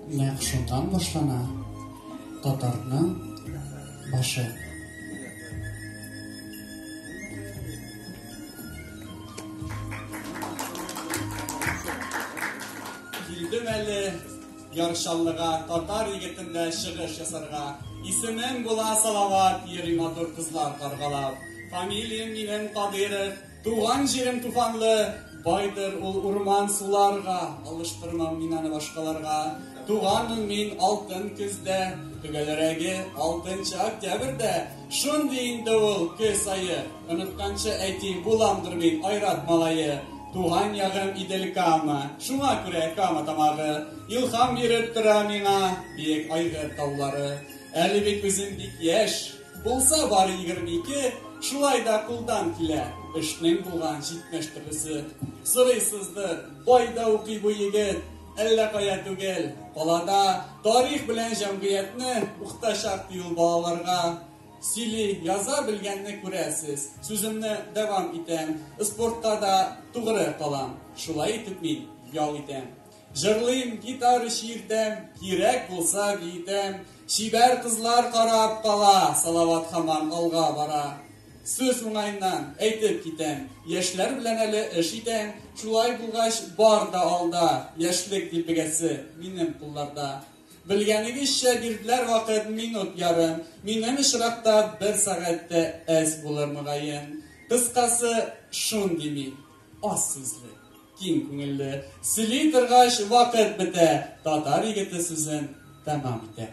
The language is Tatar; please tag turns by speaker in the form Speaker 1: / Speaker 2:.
Speaker 1: Нәкъ шуннан башлана татарның башы.
Speaker 2: Килдем әле яршаллыга, татар егетендә чыгыш ясарга. Исемем була Салават, йөри матур кызлар каргалап. Фамилиям минем Кадыйров, Туган җирем туфанлы байдыр ул урман суларга, алыштырмам мин аны башкаларга. Туганмын мин алтын көздә, төгәлрәге алтынчы октябрьдә. Шундый инде ул көз айы, онытканчы әйтим, буламдыр мин айрат малае. Туган ягым Идел Кама, шуңа күрә Кама тамагы. Илхам биреп тора миңа биек айгыр таулары. Әле бит үзем бик яшь, Булса бары егерме ике, шулай да кулдан килә, эшнең булган җитмеш төрлесе. Сорыйсыздыр, кайда укый бу егет, әллә кая түгел, калада тарих белән җәмгыятьне укытачак, ди ул балаларга. Сөйли, яза белгәнне күрәсез. Сүземне дәвам итәм, спортка да тугры калам. Шулай итеп мин ял итәм. Җырлыйм, гитара чиртәм, кирәк булса биетәм, чибәр кызлар карап кала, Салават хаман алга бара. Сүз уңайыннан әйтеп китәм, яшьләр белән әле эш итәм, шулай булгач бар да алда, яшьлек дилбегәсе минем кулларда. Белгәнегезчә бирделәр вакыт минут ярым, минем очракта бер сәгатьтә әз булыр мөгаен. Кыскасы, шундый мин, аз сүзле. Киң күңелле, сөйли торгач вакыт бетә, татар егете сүзен тәмам итә.